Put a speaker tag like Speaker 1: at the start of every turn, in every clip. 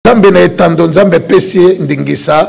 Speaker 1: Nzambe na etando, Nzambe apesi ye ndingisa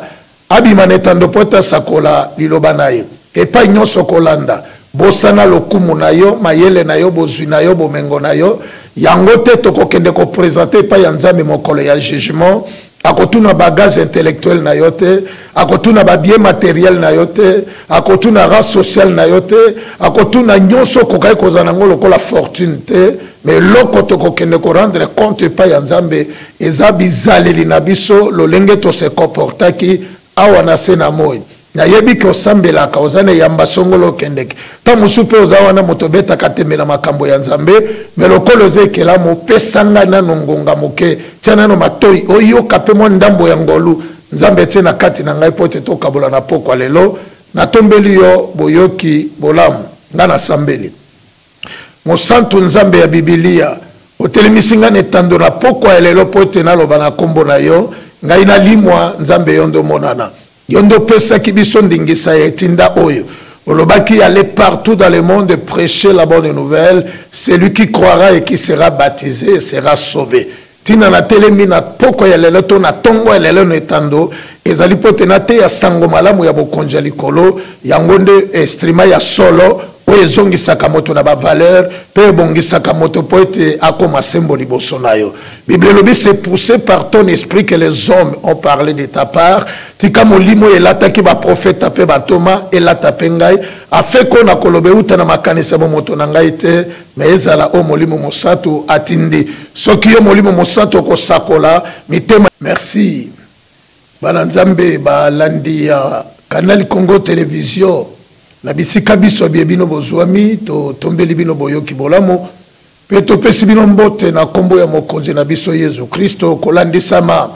Speaker 1: abima na etando mpo ete asakola liloba na ye epai nyonso kolanda. Bosana lokumu na yo, mayele na yo, bozwi na yo, bomengo na yo. Yango te tokokende ko presenter epai ya Nzambe mokolo ya jugement. Akotuna bagage intellectuel na yo te, akotuna ba biens materiels na yo te, akotuna race sociale na yo te, akotuna nyonso okokaki kozala na yango lokola fortune te. Mais loko tokokende ko rendre compte epai ya Nzambe eza bizaleli na biso lolenge to se comportaki awa na se na moi. Nayebi ke osambelaka, oza na eyamba songolo okendeke. Ntango mosusu mpe oza wana moto obetaka tembe na makambo ya Nzambe, mais lokola oza ekelamu, pesa ngai nano ngonga moke, tia nano matoi oyoka mpe mwa ndambo ya ngolu Nzambe atie na kati na ngai mpo ete tokabola na pokwa lelo. Natombeli yo boyoki bolamu. Ngai nasambeli. Mosantu Nzambe ya Bibilia, otelemisi ngai na etando na pokwa ya lelo mpo ete naloba na nkombo na yo, ngai nalimwa, Nzambe yo nde omonana. Yo nde opesaki biso ndingisa ya etinda oyo. Olobaki, Allez partout dans le monde et prêchez la bonne nouvelle, celui qui croira et qui sera baptise sera sauve. Ntina natelemi na pokwa ya lelo to na ntongo ya lelo na etando ezali mpo ete nateya nsango malamu ya Bokonzi ya likolo. Yango nde estrima ya solo oyo ezongisaka moto na bavalere mpe ebongisaka moto mpo ete akoma sembo liboso na yo. Biblia elobi, C'est poussé par ton esprit que les hommes ont parlé de ta part. Tika molimo oyo elataki baprofeta mpe bantoma elata mpe ngai, afin mpo nakoloba euta na makanisi ya bomoto na ngai te, Mais ezala o molimo mosatu atindi soki yo molimo mosatu okosakola mitema. Merci bana nzambe ba landi ya canal congo television na bisika biso bye bino bozuami to tombeli bino boyoki bolamu pe topesi bino mbote na kombo ya mokonzi na biso yesu kristo kolandisama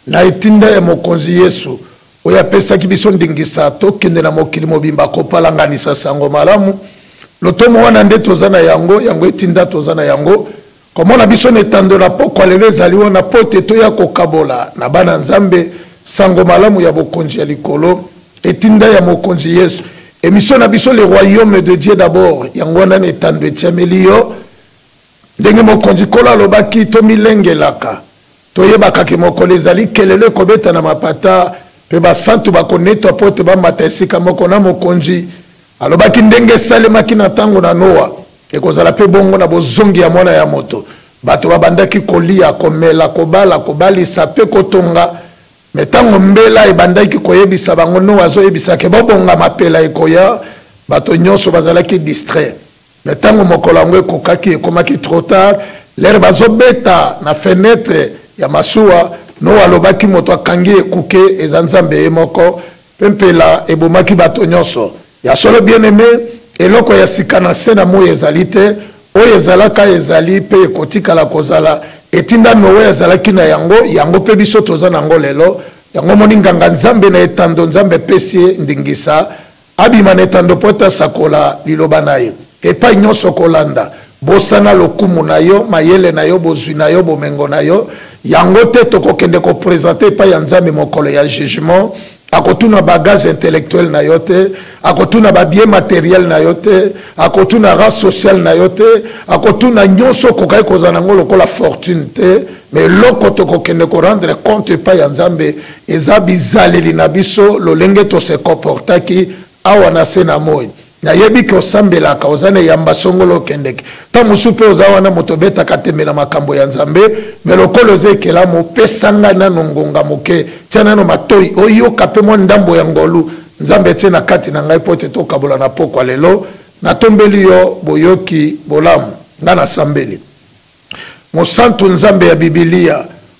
Speaker 1: na etinda ya mokonzi yesu oyo apesaki biso ndingisa tokende na mokili mobimba kopalanganisa sango malamu. Lotomo wana nde toza na yango, yango etinda toza na yango. Komona biso na etando na pokwa lelo ezali wana mpo ete toya kokabola na bana Nzambe sango malamu ya bokonzi ya likolo, etinda ya Mokonzi Yesu. Emission na biso Le Royaume de Dieu d'abord, yango wana na etando etiameli yo. Ndenge Mokonzi Nkolo alobaki, tomilengelaka, toyebaka ke mokolo ezali, kelelo ekobeta na mapata, mpe basantu bakonetwa mpo ete bamata esika moko na Mokonzi. Alobaki, Ndenge esalemaki na tango na Noa, ekozala mpe bongo na bozongi ya Mwana ya Moto. Bato babandaki koliya, komela, kobala, kobalisa, mpe kotonga. Mais tango mbela ebandaki koyebisa bango, Noa azoyebisa ke, Bobongama, pela ekoya! bato nyonso bazalaki distrait. Mais ntango mokolo yango ekokaki, ekomaki trop tard. Lere bazobeta na fenetre ya masuwa, Noa alobaki, Moto akangi ekuke eza Nzambe ye moko, mpe mpela ebomaki bato nyonso. Ya solo, bien-aime, eloko ya sika na nse na moi ezali te. Oyo ezalaka, ezali, mpe ekotikala kozala. Etinda Noe azalaki na yango, yango mpe biso toza na yango lelo. Yango omoni Nganga-Nzambe na etando, Nzambe apesi ye ndingisa. Abima na etando mpo ete asakola liloba na ye epai nyonso kolanda. Bosana lokumu na yo, mayele na yo, bozwi na yo, bomengo na yo. Yango te tokokende ko presenter epai ya Nzambe mokolo ya jugement. Akotuna bagage intellectuel na yo te, akotuna ba biens materiels na yo te, akotuna race sociale na yo te, akotuna nyonso okokaki kozala na yango lokola fortune te. me eloko tokokende korendre compte epai ya nzambe eza bizaleli na biso lolenge tose comportaki awa na se na moi nayebi ke osambelaka oza na eyamba songolo okendeke ntango mosusu mpe oza wana moto obetaka tembe na makambo ya nzambe me lokola oza ekelamu opesa ngai nano ngonga moke tia nano matoi oyoka mpe mwa ndambo ya ngolu nzambe etie na kati na ngai mpo ete tokabola na pokwa lelo natombeli yo boyoki bolamu ngai nasambeli Mosantu Nzambe ya Bibilia,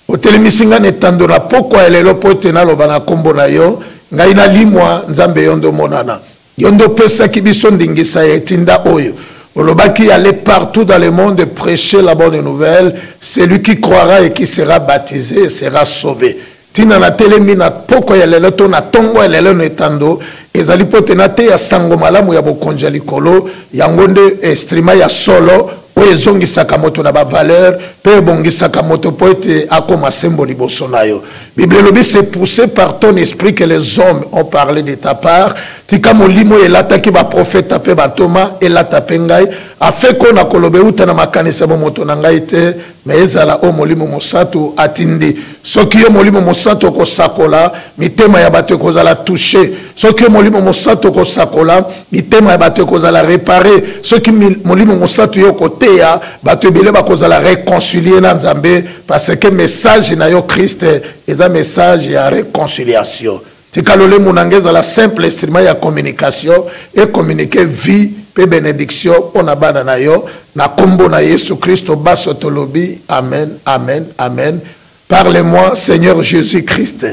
Speaker 1: otelemisi ngai na etando na pokwa ya lelo mpo ete naloba na nkombo na yo, ngai nalimwa, Nzambe yo nde omonana. Yo nde opesaki biso ndingisa ya etinda oyo. Olobaki, Allez partout dans le monde et prêchez la bonne nouvelle, celui qui croira et qui sera baptise sera sauve. Ntina natelemi na pokwa ya lelo to na ntongo ya lelo na etando ezali mpo ete nateya nsango malamu ya Bokonzi ya likolo. Yango nde estrima ya solo oyo ezongisaka moto na bavalere mpe ebongisaka moto mpo ete akoma sembo liboso na yo. Biblia elobi, C'est poussé par ton esprit que les hommes ont parle de ta part. Tika molimo oyo elataki baprofeta mpe bantoma elata mpe ngai, afin mpo nakoloba euta na makanisi ya bomoto na ngai te, Mais ezala oyo Molimo Mosantu atindi. Soki yo Molimo Mosantu okosakola, mitema ya bato ekozala touche. Soki yo Molimo Mosantu okosakola, mitema ya bato ekozala repare. Soki Molimo Mosantu yo okoteya, bato ebele bakozala reconcilier na Nzambe, parce que message na yo Christ eza message ya reconciliation. Tika lolemo na nga ezala simple instrument ya communication e communiquer vie mpe benediction mpo na bana na yo na nkombo na yesu kristo baso tolobi amen amen amen parle moi seigneur jésus christ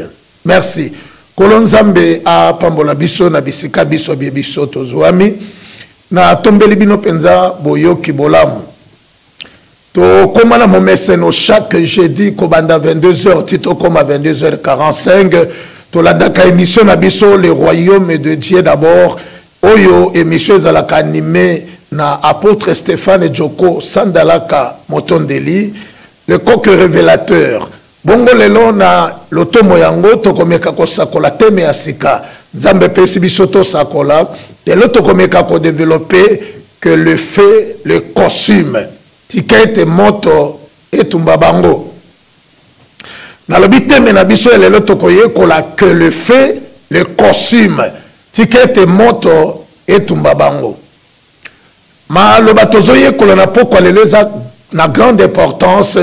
Speaker 1: merci nkolo nzambe apambola biso na bisika biso bye biso tozwami natombeli bino mpenza boyoki bolamu tokoma na momeseno chaque jeudi kobanda 22 heures ti tokoma 22 heures 45 tolandaka émission na biso le royaume de dieu d'abord oyo émission ezalaka anime na apôtre stéphane joko sandalaka motondeli le coq révélateur Bongo lelo, na lotomo yango, tokomeka kosakola teme ya sika. Nzambe epesi biso tosakola. Lelo tokomeka ko developper Que le feu le consume. Tika ete moto etumba bango. Nalobi teme na biso ya lelo tokoyekola Que le feu le consume. Tika ete moto etumba bango. Maloba tozoyekola na pokwa lelo eza na grande importance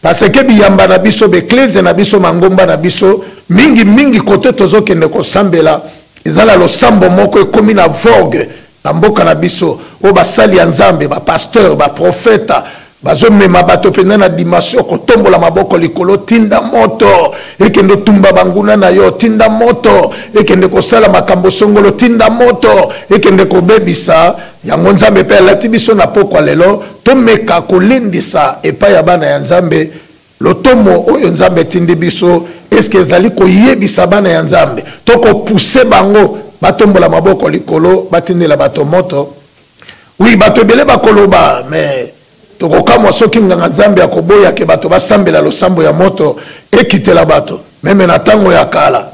Speaker 1: parce que biyamba na biso, b'eklezia na biso, mangomba na biso, mingi mingi kote tozokende kosambela eza na losambo moko ekomi na vogue na mboka na biso oyo basali ya Nzambe, ba pasteur, ba profeta, Bazo mema bato mpenza na dimension kotombola maboko likolo tinda moto ekende tumba banguna na yo tinda moto ekende kosala makambo songolo tinda moto ekende kobebisa yango nzambe mpe alati biso na pokwa lelo tomeka kolendisa epai ya bana ya nzambe lotomo oyo nzambe etindi biso eske ezali koyebisa bana ya nzambe to kopuse bango batombola maboko likolo batindela bato moto Oui, bato ebele bakoloba, mais tokokamwa soki nganga Nzambe akoboya ke bato basambela losambo ya moto ekitela bato. Meme na tango ya kala,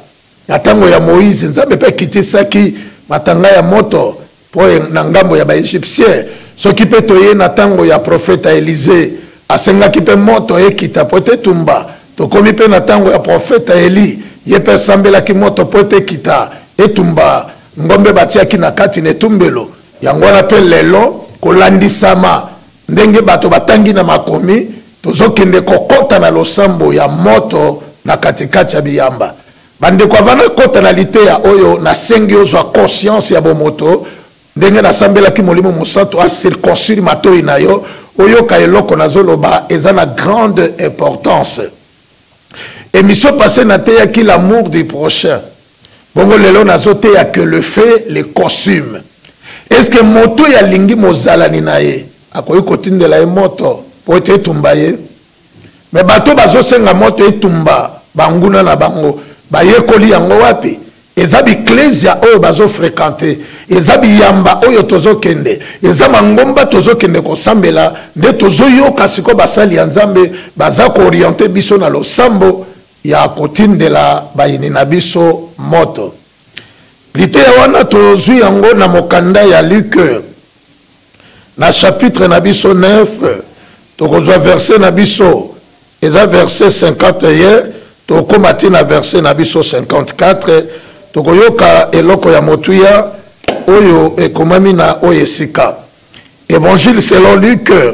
Speaker 1: na tango ya Moïse, Nzambe pe akitisaki matanga ya moto po na ngambo ya ba Egyptiens. Soki pe toye na tango ya profeta Elisee, asengaki pe moto ekita po ete etumba. Tokomi pe na tango ya profeta Elie, ye pe asambelaki moto po ete ekita, etumba. Ngombe batiaki na kati na etumbelo. Yango wana mpe lelo, kolandisama ndenge bato batangi na makomi, tozokende kokota na losambo ya moto na katikati ya biyamba. Bandeko, avant nakota na liteya oyo, nasengi ozwa conscience ya bomoto, ndenge nasambelaki Molimo Mosantu a circoncire matoyi na yo, oyoka eloko nazoloba, eza na grande importance. Emission passee nateyaki l'amour du prochain. Bongo lelo nazo teya que le fait le consume. Est-ce que moto ya lingi mozalani na ye akoki kotindela ye moto po ete etumba ye? Mais bato bazo senga moto etumba banguna na bango bayekoli yango wapi? eza biklesia oyo bazo frekante eza biyamba oyo tozokende eza mangomba tozokende kosambela nde tozoyoka sikoyo basali ya nzambe baza kooriente biso na losambo ya kotindela bayini na biso moto. Liteya wana tozwi yango na mokanda ya Luke na chapitre na biso 9 tokozwa verse na biso eza verse 51 tokoma ti na verse na biso 54 tokoyoka eloko ya motuya oyo ekomami na oyo esika évangile selon luke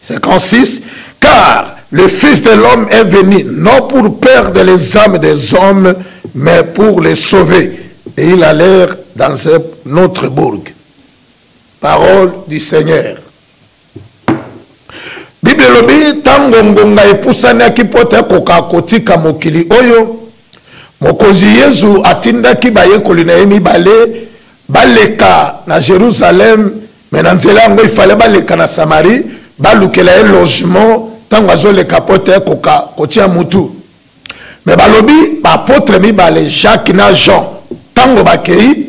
Speaker 1: 56 car le fils de l'homme est venu non pour perdre les âmes des hommes mais pour les sauver et il allait dans un autre bourg parole du seigneur bible elobi ntango ngonga epusanaki mpo te akoka kotika mokili oyo mokonzi yezu atindaki bayekoli na ye mibale baleka na jerusalem me na nzela yango ifale baleka na samarie balukela ye logement ntango azoleka mpo te koka kotia mutu me balobi baapotre mibale jacques na jean ntango bakei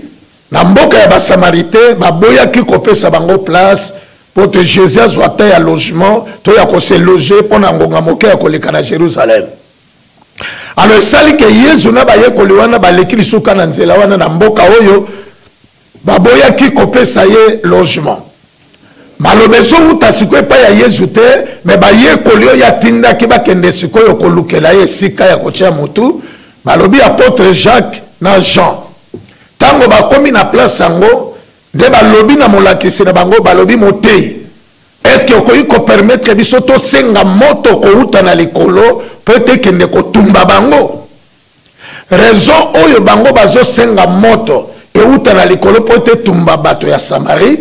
Speaker 1: na mboka ya basamarite baboyaki kopesa bango place mpo te jésus azwa ta ya logement to ya kose loge mpo na ngonga moke ya koleka na jérusalem alors esali ke yezu na bayekoli wana baleki lisuka na nzela wana na mboka oyo Baboyaki kopesa ye logement. Maloba ezowuta sikoyo epai ya Yezu te, mais bayekoli oyo atindaki bakende sikoyo kolukela ye esika ya kotia motu, balobi apotre Jacques na Jean. Tango bakomi na place yango, nde balobi na molakisi na bango, balobi, Moteyi, est-ce que okoki ko permettre biso tosenga moto kowuta na likolo po ete ekende kotumba bango? Raison oyo bango bazo senga moto ewuta na likolo po te etumba bato ya Samarie,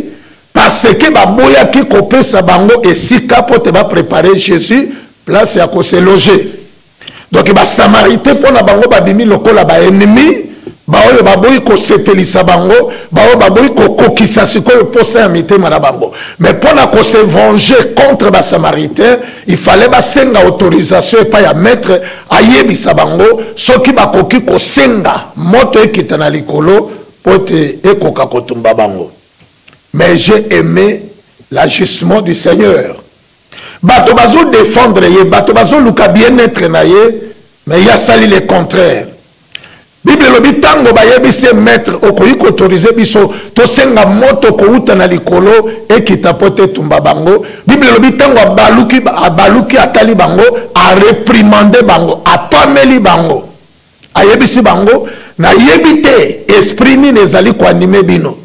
Speaker 1: parce que ba boyaki ko pesa bango esika po te ba preparer Jesus place ya ko se loger. Donc ba Samaritains pona bango ba bimi lokola ba ennemis, ba oyo ba boyi ko sepelisa bango, ba oyo ba boyi ko kokisa sikoyo posa ya mitema na bango. Mais pona ko se venger contre ba Samaritains, il fallait ba senga autorisation epai ya maitre, ayebisa bango soki bakoki kosenga moto ekita na likolo mpo ete ekoka kotumba bango mais j'ai aimé l'agissement du seigneur bato bazodefendre ye bato bazoluka bien-etre na ye mais ye asali le contraire Bible elobi ntango bayebisi ye maitre, okoki koautorize biso tosenga moto kouta na likolo ekita mpo te etumba bango. Bible elobi ntango abaluki, abaluki atali bango, areprimande bango, apameli bango, ayebisi bango, nayebi te esprit nini ezali koanime bino.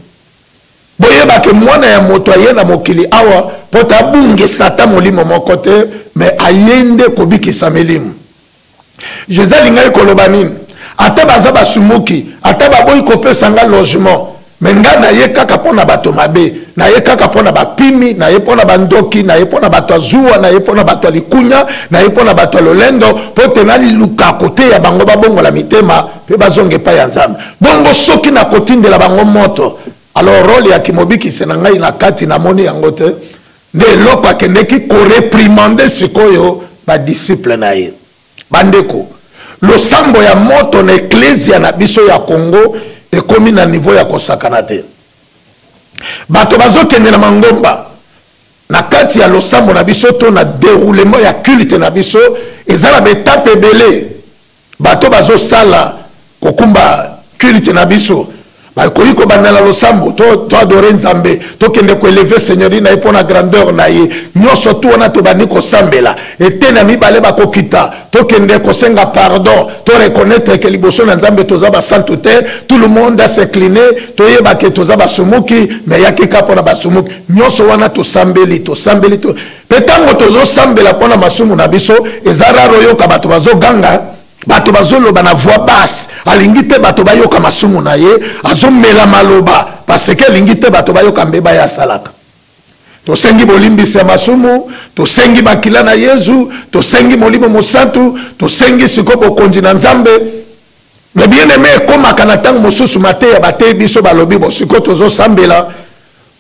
Speaker 1: Boyeba ke mwana ya moto aye na mokili awa mpo tabungisa ata molimo moko te, me aye nde kobikisa milimo. jesus alingaki koloba nini ata baza basumuki ata baboyi kopesa nga logement me nga naye kaka mpo na bato mabe naye kaka mpo na bapimi naye mpo na bandoki naye mpo na bato ya zuwa naye mpo na bato ya likunya naye mpo na bato ya lolendo mpo te naliluka koteya bango babongola mitema mpe bazonga epai ya nzambe bongo soki nakotindela bango moto alors role ya kimobikisi na ngai na kati namoni yango te nde eloko akendeki koreprimande sikoyo badisiple na ye bandeko losambo ya moto na eklezia na biso ya congo ekomi na nivo ya kosakana te bato bazokende na mangomba na kati ya losambo na biso to na deroulement ya culte na biso eza na baetape ebele Bato bazo sala kokumba culte na biso bakoki kobanda na losambo to to adore nzambe tokende ko eleve seigneurie na ye mpo na grandeur na ye nyonso tu wana tobandi kosambela eteni ya mibale bakokita tokende kosenga pardon to reconnaître ke liboso na nzambe toza basantu te tout le monde a s'incline toyeba ke toza basumuki me yaki ka mpo na basumuki nyonso wana tosambeli tosambeli to Mpe ntango tozosambela mpo na masumu na biso, eza rare oyoka bato bazoganga, bato bazoloba na voix basse. Alingi te bato bayoka masumu na ye, azomela maloba parce que alingi te bato bayoka mbeba ye asalaka. tosengi bolimbisi ya masumu tosengi makila na yezu tosengi molimo mosantu tosengi siko bokonzi na nzambe me bien aime ekomaka na ntango mosusu mateya bateyi biso balobi bosiko tozosambela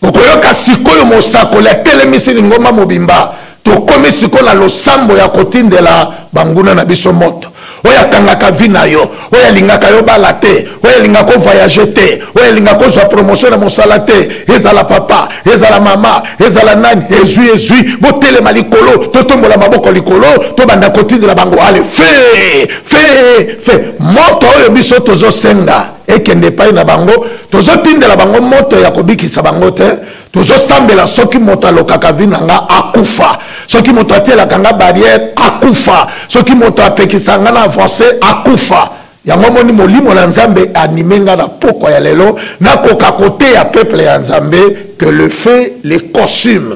Speaker 1: Okoyoka sikoyo mosakoli atelemisi lingomba mobimba. Tokomi sikoyo na losambo ya kotindela banguna na biso moto. Oyo akangaka vi na yo, oyo alingaka yo bala te, oyo alingaka ovoyage te, oyo alingaka ozwa promotion na mosala te, ezala papa, ezala mama, ezala nani, ezwi ezwi, botelema likolo, totombola maboko likolo, tobanda kotindela bango ale fe fe fe moto oyo biso tozosenga ekende epai na bango tozotindela bango moto ya kobikisa bango te tozosambela soki moto alokaka vi na nga akufa soki moto atielaka nga barriere akufa soki moto apekisa nga na avance akufa yango moni molimo na nzambe anime nga na pokwa ya lelo nakoka koteya peuple ya nzambe que le fait le costume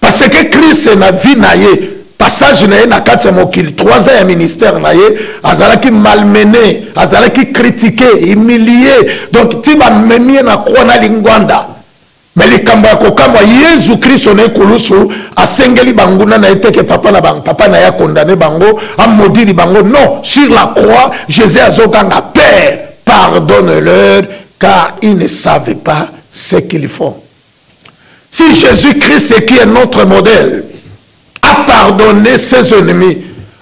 Speaker 1: parce que christ na vie na ye passage na ye na kati ya mokili 3 ans ya ministère na ye azalaki malmene azalaki kritike humilie donc ti bamemi ye na croix na lingwanda me likambo ya kokamwa yezu kristo na ekulusu asengeli banguna na ye teke papa na bango papa na ye akondane bango amodili bango non sur la croix jésus azoganga père pardonne leur car ils ne savent pas ce qu'ils font Si Jésus-Christ est qui est notre modèle, a pardonné ses ennemis,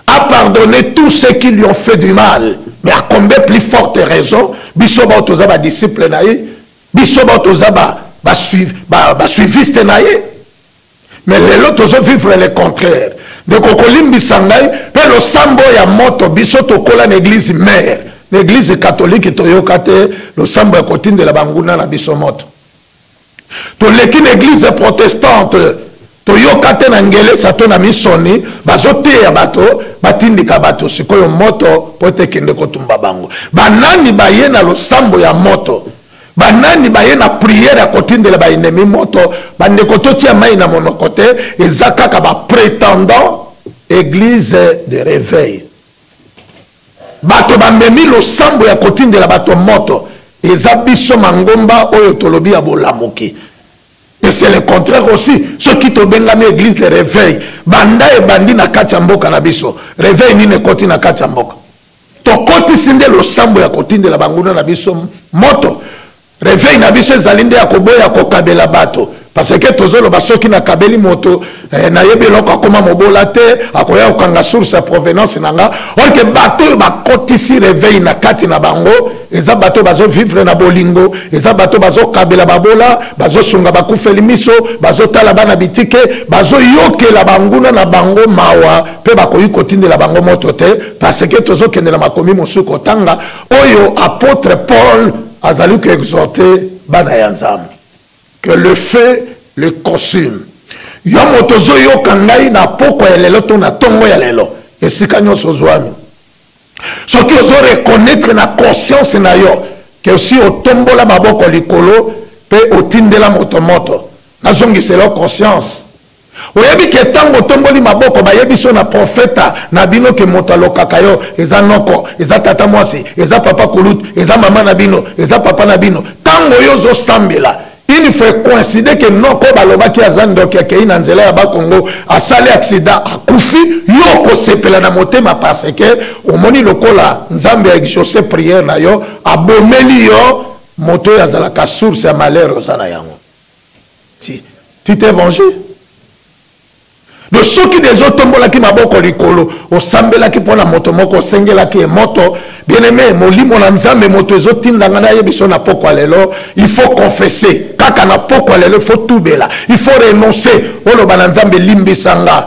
Speaker 1: a pardonné tous ceux qui lui ont fait du mal, mais à combien plus forte raison, biso ba toza ba disciples na ye, biso ba toza ba ba suiv ba, ba suiviste na ye. Mais lelo tozo vivre le contraire. ndeko kolimbisa ngai mpe losambo ya moto biso tokola na eglize mare na eglize katolike toyoka te losambo ya kotindela banguna na biso moto toleki na eglise protestante toyoka te na ngelesa to na misoni bazoteya bato batindika bato sikoyo moto mpo ete ekende kotumba bango banani baye na losambo ya moto banani baye na priere ya kotindela baenemi moto bandeko totia mai na monoko te eza kaka bapretendant eglise de reveil Bato bamemi losambo ya kotindela bato moto. Eza biso mangomba oyo tolobi ya bolamuki. Et c'est le contraire aussi, soki tobengami eglise de reveil, banda ebandi na kati ya mboka na biso, reveil nini ekoti na kati ya mboka? Tokotisi nde losambo ya kotindela banguna na biso moto? Reveil na biso ezali nde ya koboya kokabela bato parce que tozoloba soki nakabeli moto eh, nayebi eloko akoma mobola te akoya kokanga source ya provenance na nga orke bato oyo bakotisi reveil na kati na bango eza bato bazovivre na bolingo eza bato bazokabela babola bazosunga bakufeli miso bazotala bana bitike bazoyokela banguna na bango mawa mpe bakoki kotindela bango moto te parce que tozokende na makomi mosusu kotanga oyo apotre paul azali ko exhorter bana ya nzambe que le feu le consume yo moto ozoyoka ngai na pokwa ya lelo to na ntongo ya lelo esika nyonso ozwami soki ozo reconnaître na conscience na yo ke osi otombola maboko likolo mpe otindela moto moto nazongisela conscience Oyebi ke tango otomboli maboko bayebisi yo na profeta na bino ke moto alokaka yo eza noko, eza tata muasi, eza papa kulutu, eza mama na bino, eza papa na bino. Tango yo ozo sambela une fois e coincide ke noko oyo balobaki aza ndoki akeyi na nzela ya ba kongo asali accident akufi, yo okosepela na motema parce ke omoni lokola Nzambe a exauce prière na yo abomeli yo moto oyo azalaka source ya malheur oza na yango. tu t'es vengé donc soki deja otombolaki maboko likolo osambelaki mpo na moto moko osengelaki ye moto bien aime molimo na nzambe moto ezotinda ngai nayebi so na pokwa lelo il faut confesse kaka na pokwa lelo il faut tubela il faut renoncer oloba na nzambe limbisa nga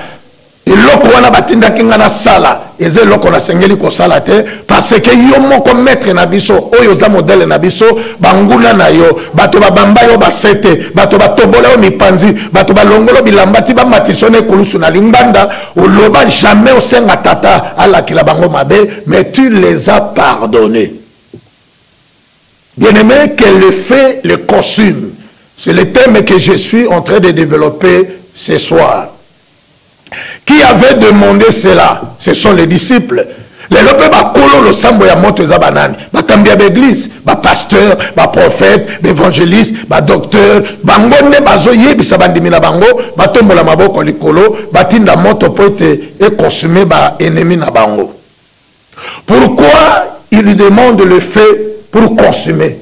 Speaker 1: eloko wana batindaki ngai nasala eza eloko nasengeli kosala te parce que yo moko maître na biso oyo oza modele na biso banguna na yo bato babamba yo basete bato batobola yo mipanzi bato balongolo bilamba ti bamatisa yo na ekulusu na lingbanda oloba jamais osenga tata alakela bango mabe mais tu les as pardonné bien aimé que le fait le consume c'est le thème que je suis en train de développer ce soir qui avait demandé cela ce sont les disciples lelo mpe bakolo losambo ya moto eza banani bakambi ya baeglise bapasteur baprofete baevangeliste badocteur bango nde bazoyebisa bandimi na bango batombola maboko likolo batinda moto mpo ete ekonsume baennemi na bango Pourquoi il lui demande le fait pour consommer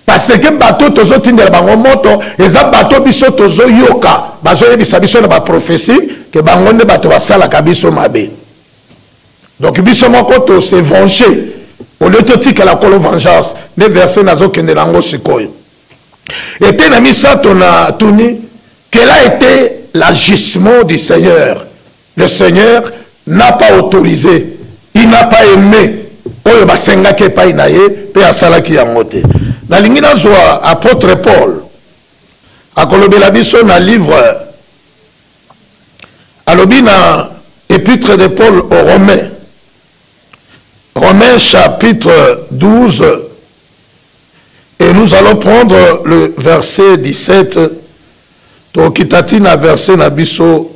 Speaker 1: parce que bato tozotindela bango moto eza bato biso tozoyoka bazoyebisa biso na baprophesie ke bango nde bato basalaka biso mabe donc biso moko tose venge olio totikela kolo vengeance nde verse nazokende na yango sikoyo ete na misato na tuni kela ete l'agissement du seigneur Le Seigneur n'a pas autorisé, il n'a pas aimé oyo basengaki epai na ye mpe asalaki yango te. Nalingi nazwa apôtre Paul akolobela biso na livre alobi na épître de Paul aux Romains Romains chapitre 12 et nous allons prendre le verset 17 tokitati na verset na biso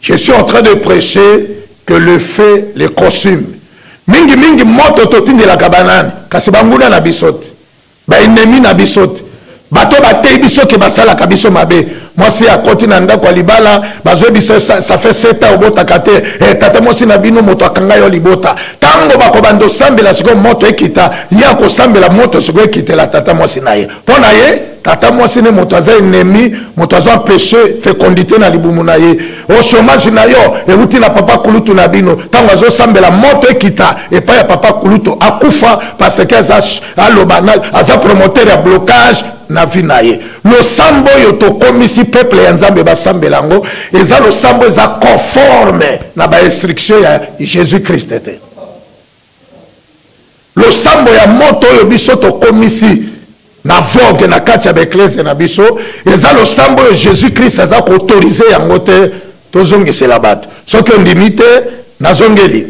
Speaker 1: Je suis en train de precher que le feu le consume. Mingi mingi moto totindelaka banani kasi banguna na biso te baennemi na biso te bato bateyi biso ke basalaka biso mabe mwasi akoti na ndako ya libala bazwi biso ça fait sept ans obotaka te e tata mwasi na bino moto akanga yo libota ntango bakobanda osambela sikoyo moto ekita ye akosambela moto sikoyo ekitela tata mwasi na ye mpo na ye tata mwasi ne moto aza enemi moto azo empeshe fecondité na libumu na ye o chomage na yo euti na papa kulutu na bino ntango azosambela moto ekita epai ya papa kulutu akufa parce que aza aloba aza promoteur ya blocage na vie na ye losambo oyo tokomisi peuple ya nzambe basambela yango eza losambo eza conforme na bainstruction ya jésus christ te Losambo ya moto oyo biso tokomisi na vogue na kati ya baeklezia na biso eza losambo oyo Jesus Christ aza koautorize yango te tozongisela bato soki ondimi te nazongeli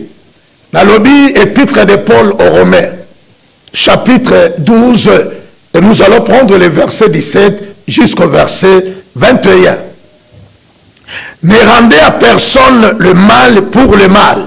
Speaker 1: nalobi epitre de Paul au Romain chapitre 12 et nous allons prendre le verset 17 jusqu'au verset 21 ne rendez à personne le mal pour le mal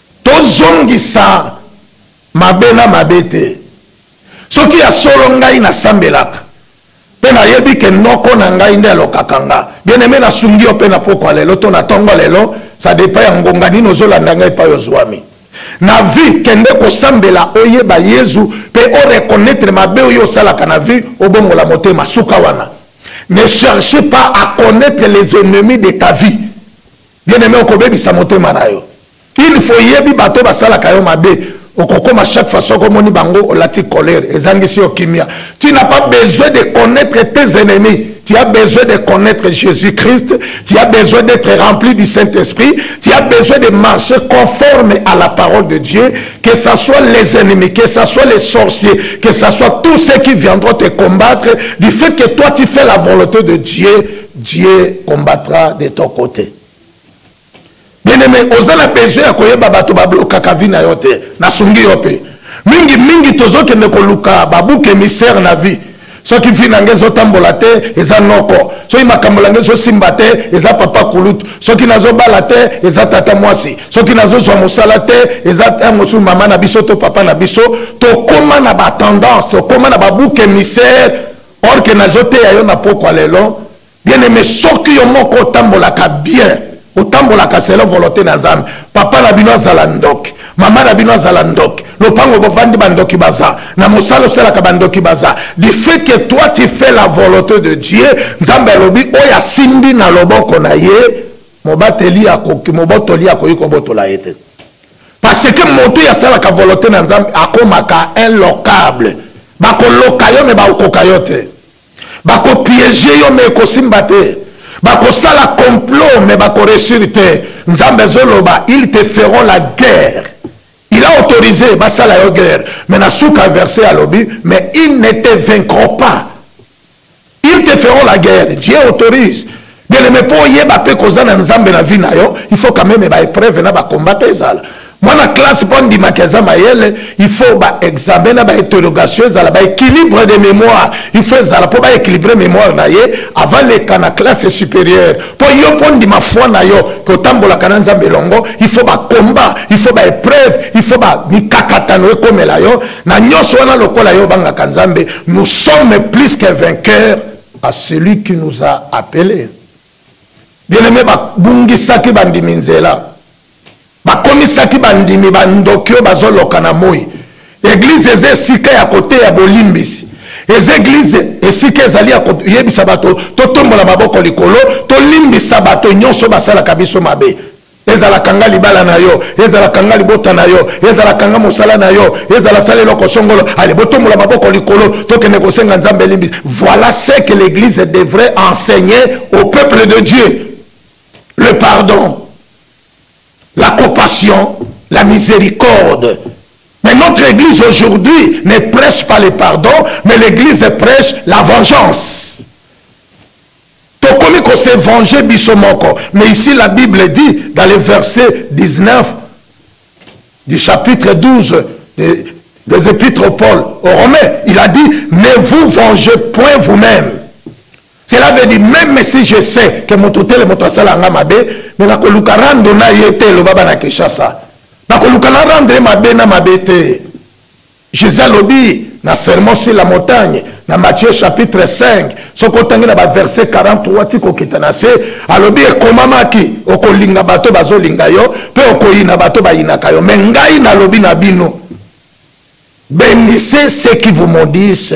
Speaker 1: Tozongisa mabe na mabe te. Soki ya solo ngai nasambelaka mpe nayebi ke noko na ngai nde alokaka nga, bien-aime nasungi yo mpe na pokwa lelo to na tongo lelo, ça depend ya ngonga nini ozolanda ngai epai ozwami na vie. Kende kosambela oyeba Yezu mpe o reconnaitre mabe oyo osalaka na vie, obongola motema. Suka wana. Ne cherchez pas à connaitre les ennemis de ta vie. bien aime okobebisa motema na yo il faut yebi bato basalaka yo mabe okokoma chaque fois soko omoni bango olati colere ezangisi yo kimia tu n'as pas besoin de connaître tes ennemis tu as besoin de connaître jésus christ tu as besoin d'être rempli du saint esprit tu as besoin de marcher conforme à la parole de dieu que ce soit les ennemis que ce soit les sorciers que ce soit tous ceux qui viendront te combattre du fait que toi tu fais la volonté de dieu Dieu combattra de ton cote. Bien aimé, oza na besoin ya koyeba bato ba blokaka vie na yo te. Na sungi yo pe. Mingi mingi tozo kende koluka ba bouc émissaire na vie. soki vi na ngai ezotambola te eza noko soki makambo na ngai ezosimba te eza papa kulutu soki nazobala te eza tata mwasi soki nazozwa mosala te eza eh, mosusu mama na biso to papa na biso tokóma na batendance tokóma na babuke misere or que nazo teya yo na pokwa lelo bien aime soki yo moko otambolaka bien otambolaka selon volonté na nzambe papa na bino azala ndoki mama na bino azala ndoki lopango bovandi bandoki baza na mosala osalaka bandoki baza du fait que toi tu fais la volonté de dieu nzambe alobi oyo asimbi na loboko na ye mobateli mobotoli akoki kobotola ye te Parce que moto oyo asalaka volonte na Nzambe akomaka inlocable. Bakoloka yo me bakokoka yo te. Bakopiege yo me ekosimba te. Bakosala complot me bakoreussir te. Nzambe azoloba ils te feront la guerre. Il a autorisé basala yo guerre. Mais na suka verset alobi mais ils ne te vaincront pas. Ils te feront la guerre. Dieu autorise. Bien aimé, pour yeba pe koza na nzambe na vie na yo, il faut quand même ba épreuve na ba combat pe zala. Moi na classe pour ndima kaza mayele, il faut ba examen na ba interrogation zala ba équilibre de mémoire. Il faut zala pour ba équilibrer mémoire na ye avant les kana classe supérieure. Pour yo pour ndima foi na yo ko tambola kana nzambe longo, il faut ba combat, il faut ba épreuve, il faut ba mikakatano ekomela yo na nyonso wana lokola yo obangaka nzambe nous sommes plus que vainqueur à celui qui nous a appelé bien aimé babungisaki bandimi nzela bakomisaki bandimi bandoki oyo bazoloka na moi eglize eza esika ya koteya bolimbisi eza eglize esika ezali ya koyebisa bato totombola maboko likolo tolimbisa bato nyonso basalaka biso mabe ezala kanga libala na yo ezala kanga libota na yo ezala kanga mosala na yo ezala sala eloko songolo ale botombola maboko likolo tokende kosenga nzambe elimbisi voilà ce que l'église devrait enseigner au peuple de dieu le pardon la compassion la miséricorde mais notre église aujourd'hui ne prêche pas le pardon mais l'église prêche la vengeance Tokomi ko se venger biso moko mais ici la bible dit dans le verset 19 du chapitre 12 de, des épîtres au Paul aux Romains, il a dit ne vous vengez point vous-même. Cela veut dire même si je sais que moto tele moto asala nga mabe mais nakoluka rando na ye te loba bana Kinshasa. Nakoluka na rendre mabe na mabe te. Jesus alobi na sermon sur la montagne na Matthieu chapitre 5 soki otangi na ba verset 43 ti kokita na se alobi ekomamaki okolinga bato bazolinga yo mpe okoyina bato bayinaka yo me ngai nalobi na bino benise ce qui vous maudisse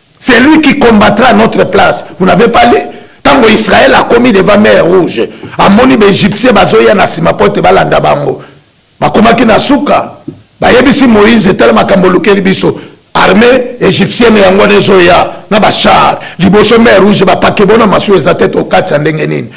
Speaker 1: C'est lui qui combattra à notre place. Vous n'avez pas lu Tango Israël a commis devant mer rouge. Amoni ba Égyptiens bazoya na sima pote balanda bango. Bakomaki na suka. Bayebisi Moïse tala makambo lukeli biso. Armée égyptienne yango nezoya na ba char. Liboso mer rouge ba pakebo na masu eza tete okati ndenge nini.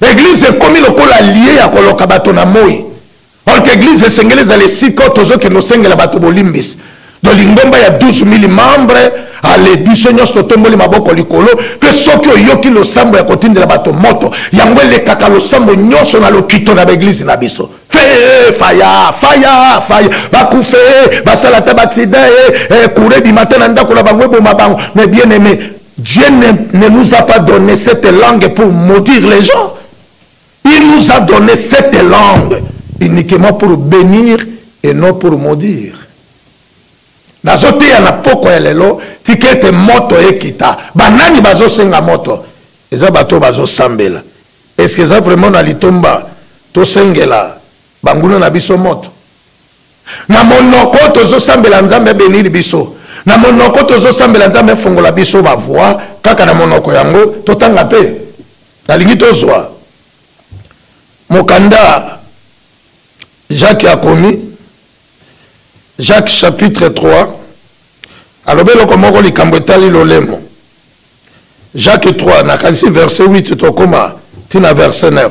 Speaker 1: Eglise ekomi lokola lie ya koloka bato na moi. Or que eglise esengeli ezala esika oyo tozokende osengela bato bolimbisi. Donc lingomba ya 12000 membres ale biso nyonso totomboli maboko likolo mpe soki oyoki losambo ya kotindela bato moto yango elekaka losambo nyonso na lokito na baeglize na biso fee faya faya faya bakufe basala ata baaksida e eh, kure eh, bimata na ndako na bango eboma bango me bien aime Dieu ne, ne nous a pas donné cette langue pour maudire les gens. Il nous a donné cette langue uniquement pour bénir et non pour maudire. nazoteya na pokwa ya lelo tika ete moto ekita banani bazosenga moto eza bato oyo bazosambela eske eza vraiment na litomba tosengela banguna na biso moto Na monoko tozo sambela nzambe a benir biso na monoko tozo sambela nzambe afongola biso ba voix kaka na monoko yango totanga pe nalingi tozwa mokanda Jacques akomi Jacques chapitre 3 alobi eloko moko likambo etali lolemo Jacques 3 nakanisi verset 8 tokoma ntina verset 9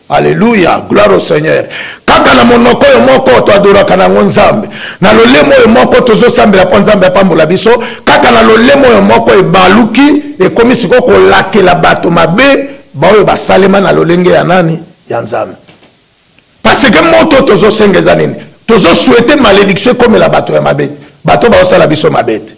Speaker 1: Alleluia, gloire au Seigneur. Kaka na monoko oyo moko to adoraka na yango Nzambe. Na lolemo oyo moko tozo sambela mpo Nzambe apambola biso. Kaka na lolemo oyo moko ebaluki ekomi sikoyo kolakela bato mabe baoyo basalema na lolenge ya nani? Ya Nzambe. Parce que moto tozo senga eza nini? Tozo souhaiter malédiction ekomela bato ya mabe. Bato baosala biso mabe te.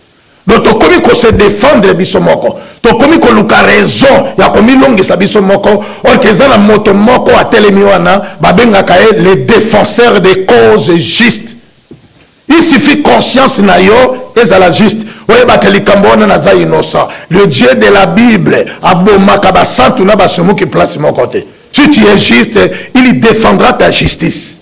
Speaker 1: Donc tokomi ko se defendre biso moko. Tokomi koluka raison ya komilongisa biso moko or que eza na moto moko atelemi wana babengaka ye le defenseur des causes justes. Il suffit conscience na yo ezala juste oyebaka likambo wana naza innocent. Le Dieu de la Bible abomaka basantu na basumuki place moko te. Si tu es juste, il defendra ta justice.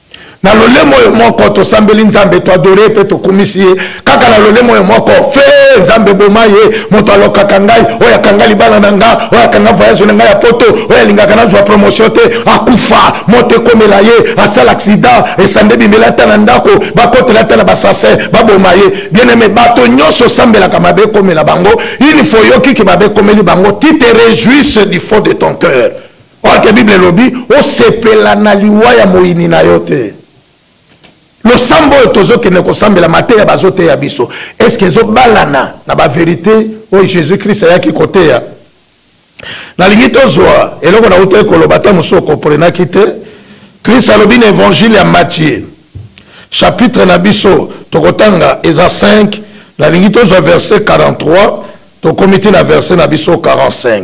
Speaker 1: na lolemo oyo moko tosambeli nzambe toadore mpe tokumisi ye kaka na lolemo oyo moko fe nzambe boma ye moto alokaka ngai oyo akanga libala na nga oyo akanga voyage na ngai ya poto oyo alingaka nazwa promotion te akufa moto ekomela ye asala accident esande bimela ata na ndako bakotela ata na basase baboma ye bieneme bato nyonso osambelaka mabe ekomela bango il faut oyokiki mabe ekomeli bango ti te rejouisse du fond de ton cœur Or que Bible elobi osepela na liwa ya moyini na yo te. Losambo oyo tozokende kosambela mateya bazoteya biso est-ce que ezobalana na ba verite oyo Jésus Christ ayaki koteya? Nalingi tozwa eloko na utaki koloba ata mosusu okomprenaki te. Christ alobi na Evangile ya Matthieu chapitre na biso tokotanga eza 5 nalingi tozwa verset 43 tokomi ti na verset na biso 45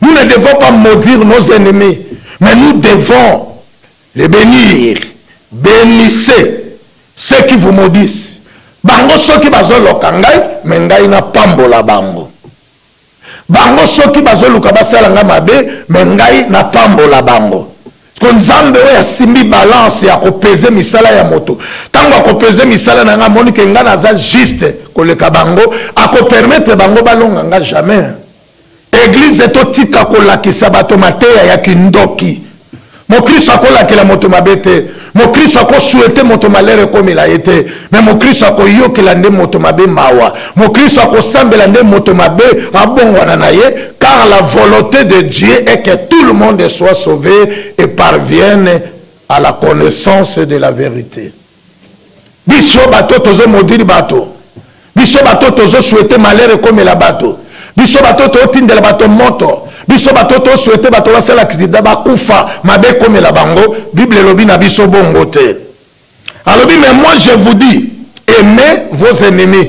Speaker 2: Nous ne devons pas maudire nos ennemis, mais nous devons les bénir. Bénissez ceux qui vous maudissent. Bango soki bazoloka ngai, mais ngai na pambola bango. Bango soki bazoluka basala ngai mabe, mais ngai na pambola bango. ko nzambe oyo asimbi balance ya kopeze misala ya moto ntango akopeze misala na ngai amoni ke ngai naza juste koleka bango akopermetre bango balonga ngai jamais Eglise totika kolakisa bato mateya ya kindoki. Mokristo akolakela moto mabe te. Mokristo akosuete moto malere ekomela ye te. Me mokristo akoyokela nde moto mabe mawa. Mokristo akosambela nde moto mabe abongwana na ye car la volonte de Dieu est que tout le monde soit sauve et parvienne à la connaissance de la verite. biso bato tozo modiri bato biso bato tozo souhaite malheur ekomela bato biso bato totindela bato moto biso bato toswete bato basala kisida bakufa mabe ekomela bango bible elobi na biso bongo te alobi mais moi je vous dis aimez vos ennemis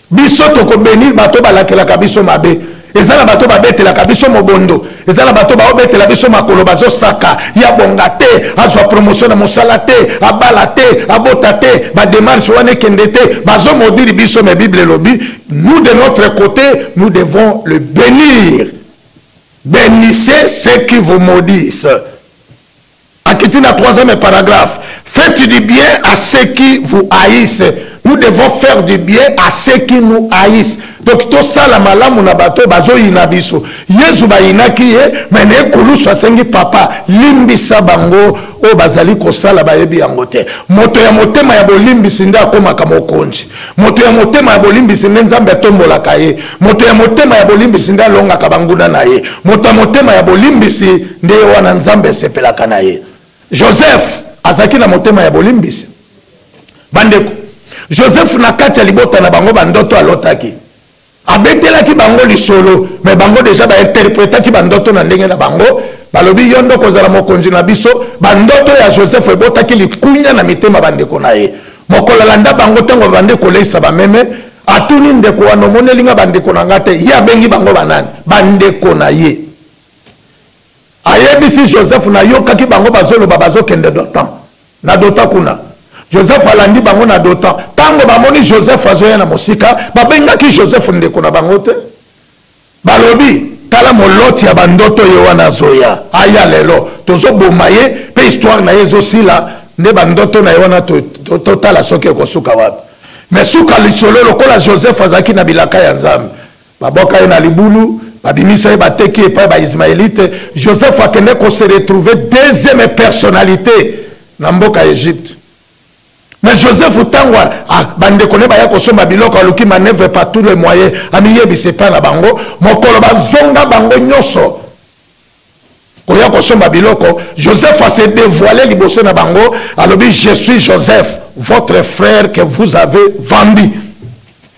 Speaker 2: Biso toko benir bato oyo balakelaka biso mabe. Eza na bato oyo babetelaka biso mobondo. Eza na bato oyo baobetela biso makolo, bazosaka ye abonga te, azwa promotion na mosala te, abala te, abota te, ba demarches wana ekende te. Bazo maudire biso mais Bible elobi nous de notre cote nous devons le benir. Benissez ceux qui vous maudissent. Akiti na troisième paragraphe. Faites du bien à ceux qui vous haïssent. Nous devons faire du bien à ceux qui nous haïssent. Donc tosala malamu na bato bazoyina biso. Yezu bayinaki ye mais na ekulusu asengi papa limbisa bango oyo bazali kosala bayebi yango te. Moto ya motema ya bolimbisi nde akomaka mokonzi. Moto ya motema ya bolimbisi nde Nzambe atombolaka ye. Moto ya motema ya bolimbisi nde alongaka banguna na ye. Moto ya motema ya bolimbisi nde ye wana Nzambe asepelaka na ye. Joseph azalaki na motema ya bolimbisi. Bandeko, Joseph na kati ya libota na bango bandoto alotaki. Abetelaki bango lisolo, mais bango dejà ba interpretaki ba ndoto na ndenge na bango, balobi yo nde okozala mokonzi na biso, ba ndoto ya Joseph ebotaki likunya na mitema ba ndeko na ye. Mokolo alanda bango tango babandi koleyisa ba meme, atuni ndeko wana omoneli nga ba ndeko na nga te? Ye abengi bango ba nani? Ba ndeko na ye. Ayebisi Joseph nayokaki bango bazoloba bazokende d'otan. Na Dotan kuna. Joseph alandi bango na Dotan. Tango bamoni Joseph azoya na mosika, babengaki Joseph ndeko na bango te. Balobi, Tala moloti ya bandoto ye wana azoya. Aya lelo, tozoboma ye, pe histoire na ye ezosila, nde bandoto na ye wana totala soki ekosuka wapi. Mais suka lisolo, lokola Joseph azalaki na bilaka ya Nzambe, Babwaka ye na libulu, babimisa ye, bateki ye epai ya ba-Ismaelite. Joseph akende ko se retrouver deuxième personnalite na mboka Egypte. Mais
Speaker 1: Joseph tango a, a, bandeko ne baya kosomba biloko, aluki manœuvre par tous les moyens, amiyebisa epai na bango. Mokolo bazonga bango nyonso, koya kosomba biloko joseph a se devoile liboso na bango alobi je suis joseph votre frère que vous avez vendu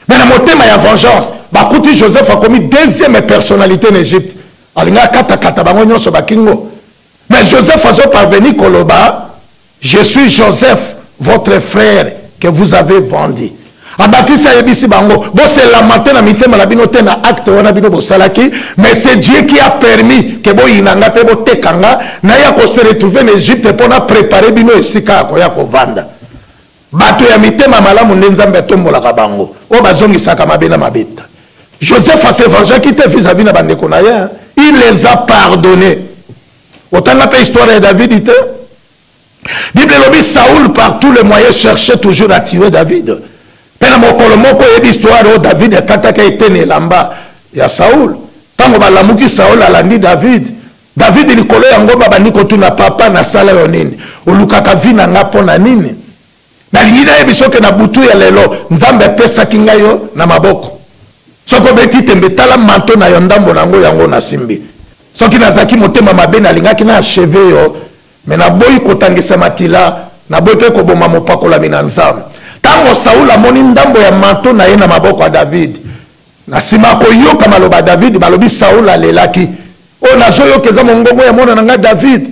Speaker 1: me na motema ya vengeance bakuti joseph akomi deuxième personnalité na egypte alinga akatakata bango nyonso bakingo me joseph azoparveni koloba Je suis Joseph votre frère que vous avez vendu abakisi ayebisi bango bose lamante na mitema na bino te na acte wana bino bosalaki mais c'est dieu qui a permis ke boyina nga mpe boteka nga naya kose retrouve na egypte mpo na prépare bino esika ya koya kovanda bato ya mitema malamu nde nzambe atombolaka bango oyo bazongisaka mabe na mabeta joseph asevangeaki te vis-à-vis na bandeko na ye il les a pardonne otanga mpe histoire ya davidi te bible elobi saul par tous les moyens cherchait toujours à tuer david mpe na mokolo moko oyebi histoire oyo david akataka eteni elamba ya saul ntango balamuki saul alandi david david likolo yango babandi kotuna papa nasala yo nini olukaka vi na ngai mpo na nini nalingi nayebi soki na butu ya lelo nzambe apesaki ngai yo na maboko soki obeti tembe tala manto na yo ndambo na yango yango nasimbi soki nazalaki motema mabe nalingaki na acheve yo me naboyi kotangisa makila naboyi mpe koboma mopakolami na nzambe ntango saul amoni ndambo ya manto na ye na maboko ya david na nsima akoyoka maloba ya david balobi saul alelaki oyo nazoyoka eza mongongo ya mwana na ngai david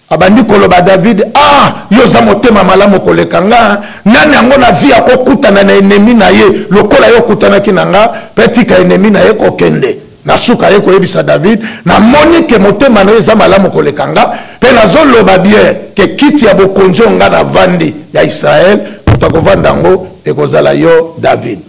Speaker 1: Abandi koloba David ah yo oza motema malamu koleka nga nani yango na vie akokutana na enemi na ye lokola yo okutanaki na nga pe tika enemi na ye kokende na suka ye koyebisa David namoni ke motema na ye eza malamu koleka nga pe nazoloba bien ke kiti ya bokonzi oyo nga navandi ya Israel moto akovanda yango ekozala yo David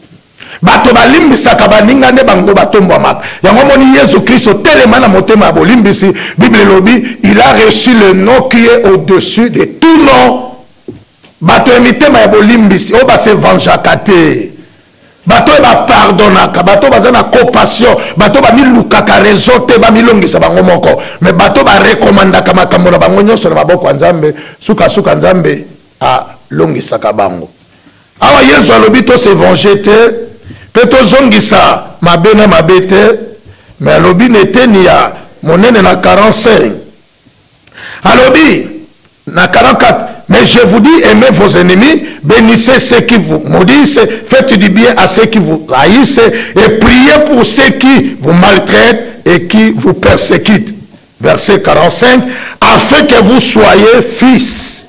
Speaker 1: Bato balimbisaka baninga nde bango batombwamaka. Yango omoni Yezu Kristo, telema na motema ya bolimbisi. Bible elobi, il a reçu le nom qui est au-dessus de tout nom. Bato ya mitema ya bolimbisi, oyo ba se vengeaka te, bato oyo ba pardonnaka, bato oyo baza na compassion, bato bamilukaka raison te, bamilongisa bango moko, mais bato ba recommandaka makambo na bango nyonso na maboko ya Nzambe, suka suka Nzambe alongisaka bango. Awa Yezu alobi to se venger te mpe tozongisa mabe na mabe te, mais alobi na eteni ya monene na 45. Alobi na 44, Mais je vous dis, aimez vos ennemis, benissez ceux qui vous maudissent, faites du bien à ceux qui vous haïssent et priez pour ceux qui vous maltraitent et qui vous persécutent. Verset 45, afin que vous soyez fils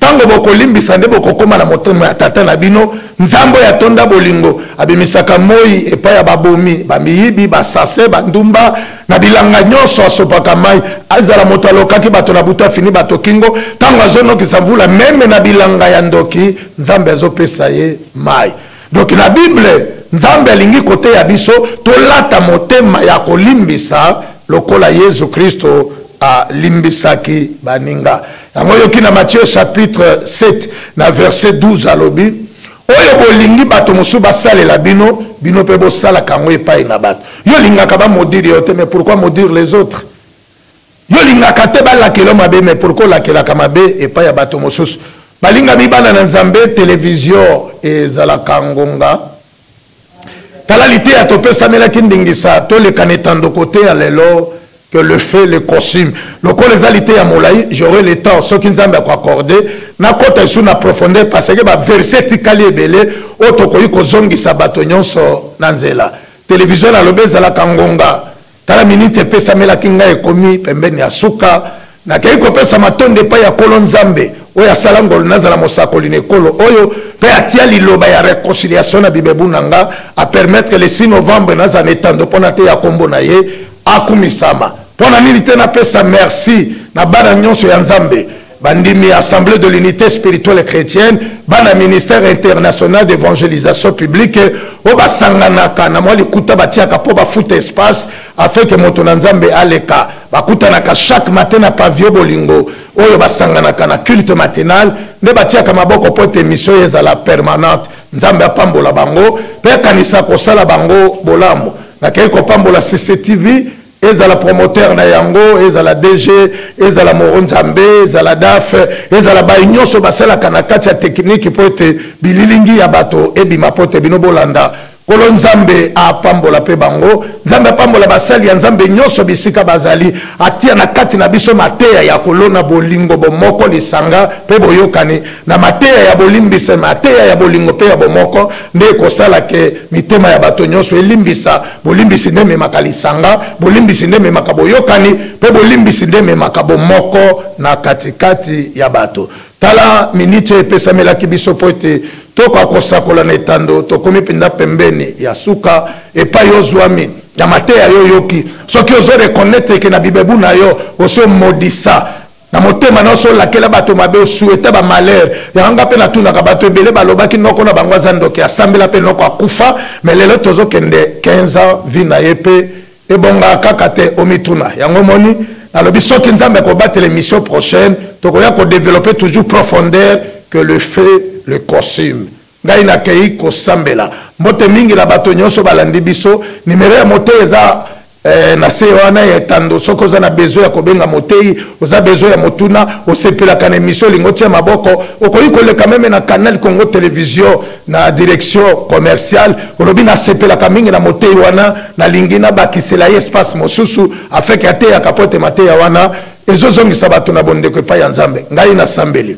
Speaker 1: Tango bokolimbisa nde bokokoma na motema ya tata na bino nzambe oyo atonda bolingo abimisaka moi epai ya babomi bamiyibi basase bandumba na bilanga nyonso asopaka mai azala moto alokaki bato na buta fini bato kingo ntango azonokisa mvula meme na bilanga ya ndoki nzambe azopesa ye mai donki na bible nzambe alingi koteya biso tolata motema ya kolimbisa lokola yezu kristo alimbisaki baninga Yango yoki na Matthieu chapitre 7 na verset 12 alobi oyo bolingi bato mosusu basalela bino bino mpe bosalaka yango epai na bato yo olingaka bamodire yo te mais pourquoi modire les autres yo olingaka te balakela mabe mais pourquoi olakelaka mabe epai ya bato mosusu balingami bana na nzambe televizio ezalaka ngonga tala liteya topesamelaki ndingisa toleka na etando koteya lelo que le fait le costume lokola eza liteya molai j'aurai le temps soki nzambe akoaccorde nakota lisusu na profondeur parce que baverse etikali ebele oyo tokoki kozongisa bato nyonso na nzela televizio nalobi ezalaka ngonga Tala miniti epesamelaki ngai ekomi pembeni ya suka. Nakei kopesa matondi epai ya Nkolo Nzambe oyo asala ngolu nazala mosakoli na ekolo oyo mpe atia liloba ya reconciliation na bibebu na nga, apermettre le 6 novembre nazala na etando mpo nateya nkombo na ye akumisama. Mpo na nini te napesa merci na bana nyonso ya Nzambe bandimi ya assemblée de l'unité spirituelle chrétienne bana ministère international d'évangélisation publique oyo basanganaka na mwa likuta batiaka mpo bafuta espace afin ke moto na nzambe aleka bakutanaka chaque matin na pavio bolingo oyo basanganaka na culte matinal nde batiaka maboko mpo ete mission ye ezala permanente nzambe apambola bango mpe akanisa kosala bango bolamu nakei kopambola cctv ezala promoteur na yango ezala dg ezala moro nzambe ezala daf ezala baye nyonso basalaka na kati ya tekiniki mpo ete bililingi ya bato ebima mpo ete bino bolanda kolo nzambe apambola mpe bango nzambe apambola basali ya nzambe nyonso bisika bazali atia na kati na biso mateya ya kolona bolingo bomoko lisanga mpe boyokani na mateya ya bolimbisa mateya ya bolingo mpe ya bomoko nde ekosala ke mitema ya bato nyonso elimbisa bolimbisi nde ememaka lisanga bolimbisi nde ememaka boyokani mpe bolimbisi nde ememaka bomoko na katikati ya bato tala miniti oyo epesamelaki biso mpo ete tokoka kosakola na etando tokomi mpenza pembeni ya suka epai ozwami ya mateya yo oyoki soki ozo reconnaître ke na bibebu na yo osi omodisa na motema nyonso olakela bato mabe osueta bamalheur yango nga mpe natunaka bato ebele balobaki noko na bango aza ndoki asambela mpe noko akufa me lelo tozokende 15 ans vi na ye mpe ebongaka kaka te omituna yango omoni nalobi soki nzambe akobatela émission prochaine tokoya kodeveloppe toujours profondeur que le fait le costume Ngai nakei kosambela. Mbote mingi na bato nyoso balandi biso. Numero ya moteyi eza eh, na se wana ya etando. Soki oza na besoin ya kobenga moteyi, oza besoin ya motuna, osepelaka na emission olingi otia maboko, okoki koleka meme na Canal Congo Television na direction commerciale, olobi nasepelaka mingi na moteyi wana, nalingi nabakisela ye espace mosusu afin que ateyaka mpo ete mateya wana ezozongisa bato na bondeko epai ya Nzambe. Ngai nasambeli.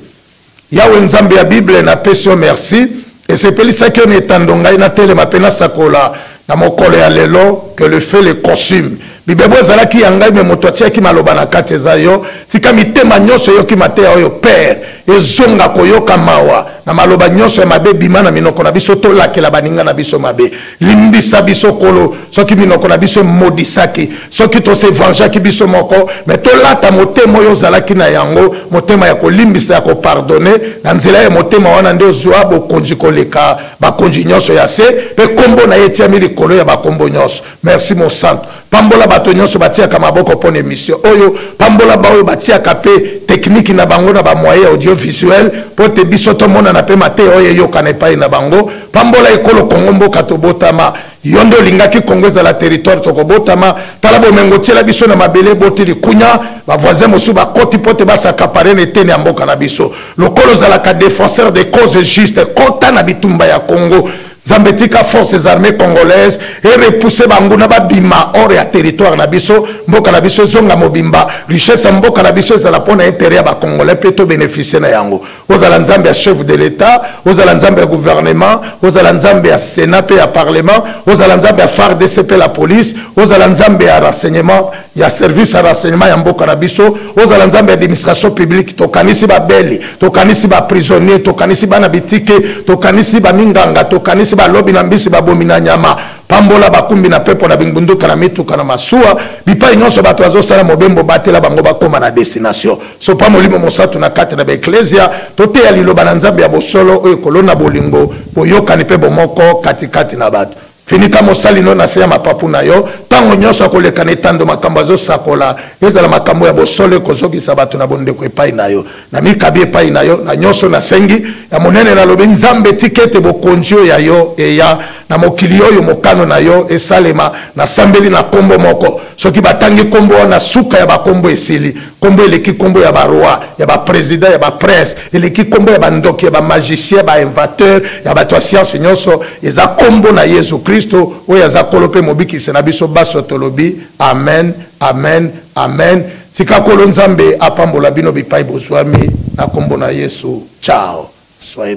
Speaker 1: Yawe Nzambe ya Bible, napesi yo mersi. Esepelisaki yo na etando ngai natelema mpe nasakola na mokolo ya lelo, que le feu le consume. Bibebu ezalaki ya ngai, mais moto atiaki maloba na kati eza yo. Tika mitema nyonso eyoki mateya oyo, Père, ezonga koyoka mawa na maloba nyonso ya mabe ebima na minoko na biso, tolakela baninga na biso mabe. Limbisa biso kolo soki minoko na biso emodisaki soki tosevangeaki biso moko me tolata motema oyo ozalaki na yango motema ya kolimbisa ya kopardone na nzela ya motema wana nde ozwa bokonzi koleka bakonzi nyonso ya se mpe nkombo na ye etiami likolo ya bakombo nyonso merci mosantu Pambola bato nyonso batiaka maboko mpo na emission oyo. Pambola baoyo batiaka mpe tekiniki na bango na bamoye audiovisuel mpo te biso tomonana mpe mateya oyo eyokana epai na bango. Pambola ekolo Kongo mboka tobotama. Yo nde olingaki Kongo ezala territoire tokobotama. Tala bomengo otiela biso na mabele eboti likunya. Ba voisins mosusu bakoti mpo te basakapare na eteni ya mboka na biso. Lokola ozalaka defenseur des causes justes, kota na bitumba ya Kongo. Zambe tika forces armées congolaises et repousser banguna babima hors ya territoire na biso mboka na biso ezonga mobimba richesse ya mboka na biso ezala mpo na intérêt ya ba congolais mpe to bénéficier na yango ozala nzambe ya chef de l'état ozala nzambe ya gouvernement ozala nzambe ya sénat mpe ya parlement ozala nzambe ya fardc mpe la police ozala nzambe ya renseignement ya service ya renseignement ya mboka na biso ozala nzambe ya administration publique tokanisi babeli tokanisi baprisonnier tokanisi bana bitike tokanisi baminganga tokanisi balobi na mbisi babomi na nyama pambola bakumbi na pepo na bingbunduka na mituka na masuwa bipai nyonso bato bazosala mobembo batela bango bakoma na destination sopa molimo mosantu na kati na baeklezia toteya liloba na nzambe ya bosolo oyo ekolona bolingo boyokani mpe bomoko katikati na bato Finika mosali no na se ya mapapu na yo, tango nyonso akoleka na etando makambo azosakola, ezala makambo ya bosolo ekozokisa bato na bondeko epai na yo. Namikabi epai na yo na nyonso nasengi, ya monene nalobi, Nzambe, tika ete bokonji oyo ya yo eya na mokili oyo, mokano na yo esalema. Nasambeli na kombo moko, soki batangi kombo wana, suka ya bakombo esili. Kombo eleki kombo ya ba roi, ya ba president, ya ba prince, eleki kombo ya ba ndoki, ya ba magicien, ba invateur, ya bato ya science nionso, eza kombo na Yezu Kristo oyo aza kolo mpe mobikisi na biso banso tolobi amen, amen, amen. Tika kolo Nzambe apambola bino bipai bozuami na kombo na Yesu. Ciao. Soyez